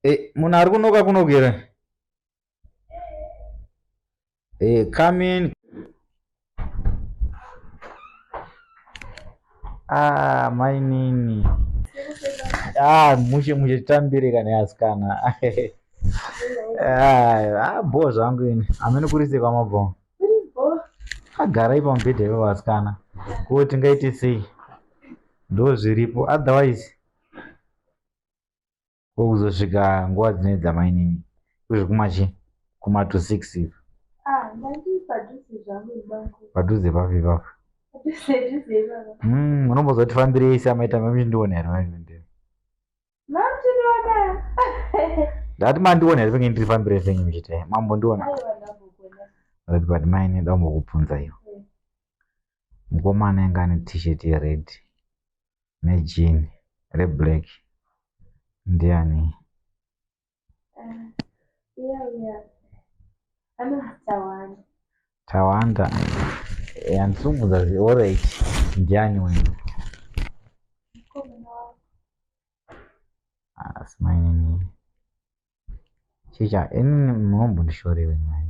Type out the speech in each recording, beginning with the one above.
Hey, eh, munhu ari kunoka kunogera hey, eh, come in ah, mainini ah, mushe mushe titambire kana yasikana ah, ah, bho zvangu ini amene kurisei kwamabhonga agara ipa mubhedha ivo vasikana ko tingaite sei ndo zviripo otherwise ko kuzosvika nguva dzine dzamainini kuzvikumachi kuma to six ivo ah, padhuze papi papo hmm, unombozoti fambirei samaita mamishindiona here ndati mandiona here penge ndirifambire fenyu muchiti mambo ndiona ati but maine ndambokubvunza iyo mukomana inga ane t-shirt yered nejini reblack ndiani Tawanda yandisungudza zvioro ichi ndiani wena asi mainini chicha inini munombondishorewe mai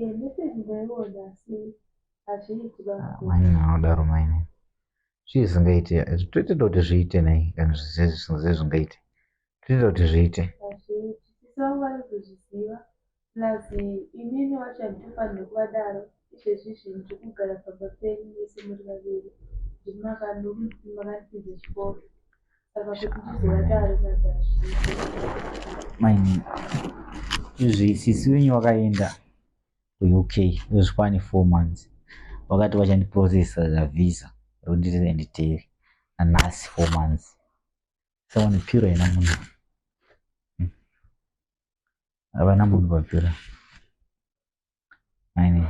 Eh, message ndaiona asi hazviiti baba. maine vanodaro maine zvii zvisingaite toitenda kuti zviite nei kana zvisingaite zvingaite toitenda kuti zviite Hazviiti. Sisi vangu vari kuzviziva. Plus imini wacho handitofanirwi kuvadaro. Izvezvi zvinhu zviri kugara pamba penyu mese muri vaviri. Ndimi makandipinza chikoro. maini izvi sisi wenyu wakaenda kuuk zvikwani four months vakati vachandiprocessa zavisa rondirienditeri nanhasi four months saone piro yena munhu hmm. havana munhu vapira maini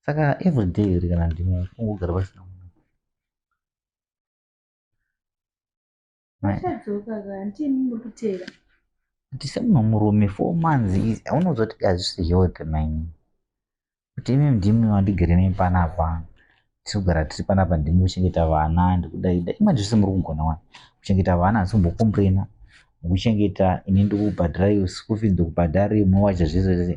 saka everyday here kana ndimwe ungogara pasina munhu tisemumwe murume four months izi aunoziva kuti hazvisi health maini kuti imi ndimwe wandigere nei panapa tiri kugara tiri panapa ndimwe kuchengeta vana ndikudaida imanje zvese muri kugona wani kuchengeta vana asi kumbokombrena kuchengeta ini ndikubhadhara iwe school fees ndikubhadhara imwe wacha zvese zvese